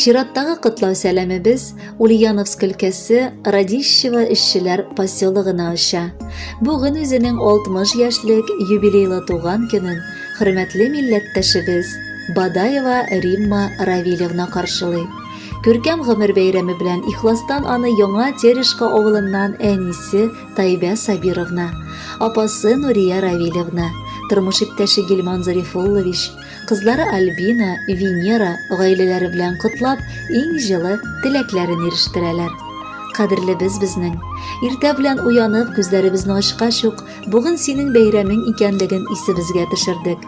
Чираттагы котлау сәламебез Ульяновск өлкәсе Радищево эшчеләр поселогына оча. Бүген үзенең 60 яшьлек юбилейлы туган көнен хөрмәтле милләттәшебез Бадаева Римма Равилевна каршылый. Күркәм гомер бәйрәме белән ихластан аны Яңа Терешка авылыннан әнисе Тайбә Сабировна, апасы Нурия Равилевна, тормыш иптәше Гилман Зарифуллович, кызлары Альбина, Венера гаиләләре белән котлап, иң җылы теләкләрен ирештерәләр. Кадерлебез безнең. Иртә белән уянып, күзләребезне ачкач ук, Бүген синең бәйрәмең икәнлеген исебезгә төшердек.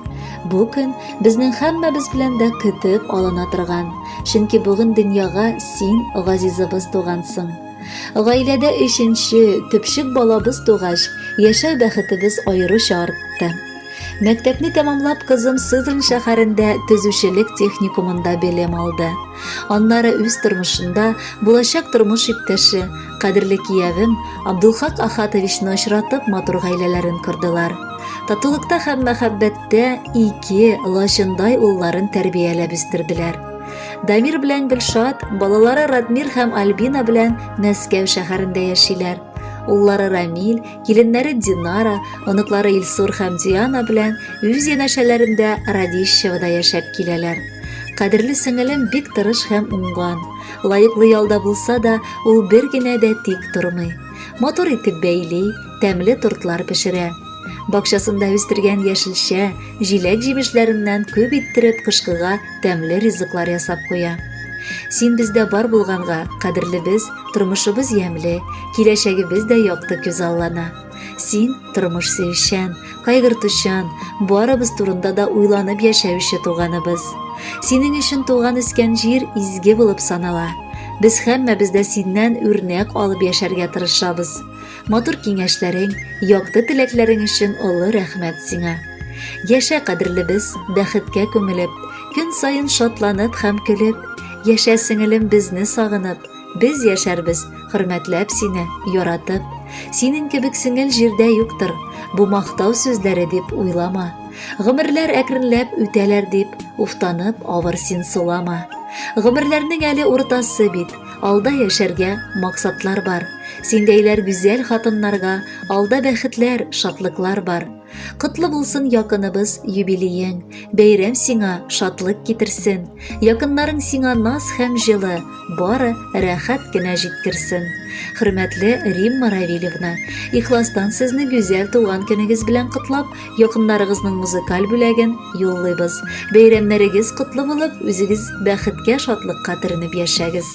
Бу көн безнең һәммәбез белән дә көтеп алына торган, чөнки бүген дөньяга син, газизыбыз, тугансың. Гаиләдә өченче, төпчек балабыз тугач, яшәү бәхетебез аеруча артты. Мәктәпне тәмамлап, кызым Сызрань шәһәрендә төзүчелек техникумында белем алды. Аннары үз тормышында булачак тормыш иптәше, Кадерле киявем Абдулхак Ахатовичны очратып матур гаиләләрен кордылар. Татулыкта һәм мәхәббәттә ике лачындай улларын тәрбияләп үстерделәр. Дамир белән Гөлшат, балалары Радмир һәм Альбина белән Мәскәү шәһәрендә яшиләр. Уллары Рамил, киленнәре Динара, оныклары Илсур һәм Диана белән үз янәшәләрендә Радищевода яшәп киләләр. Кадерле сеңелем бик тырыш һәм уңган. Лаеклы ялда булса да, ул бер генә дә тик тормый. Матур итеп бәйли, тәмле тортлар пешерә. Бакчасында үстергән яшелчә, җиләк-җимешләреннән күп иттереп кышкыга тәмле ризыклар ясап куя. Син бездә бар булганга, кадерлебез, тормышыбыз ямьле, киләчәгебез дә якты күзаллана. Син тормыш сөючән, кайгыртучан, барыбыз турында да уйланып яшәүче туганыбыз. Синең өчен туган үскән җир изге булып санала. Без һәммәбез дә синнән үрнәк алып яшәргә тырышабыз. Матур киңәшләрең, якты теләкләрең өчен олы рәхмәт сиңа. Яшә кадерлебез, бәхеткә күмелеп, көн саен шатланып һәм көлеп, яшә сеңелем безне сагынып, Без яшәрбез, хөрмәтләп сине, яратып. Синең кебек сеңел җирдә юктыр. Бу мактау сүзләре дип уйлама. Гомерләр әкренләп үтәләр дип, уфтанып, авыр син сулама. Гомерләрнең әле уртасы бит, алда яшәргә максатлар бар. Синдәйләр гүзәл хатыннарга алда бәхетләр, шатлыклар бар. Котлы булсын якыныбыз юбилеең, бәйрәм сиңа шатлык китерсен, якыннарың сиңа наз һәм җылы, бары рәхәт кенә җиткерсен. Хөрмәтле Римма Равильевна, ихластан сезне гүзәл туган көнегез белән котлап, якыннарыгызның музыкаль бүләген юллыйбыз. Бәйрәмнәрегез котлы булып, үзегез бәхеткә, шатлыкка төренеп яшәгез.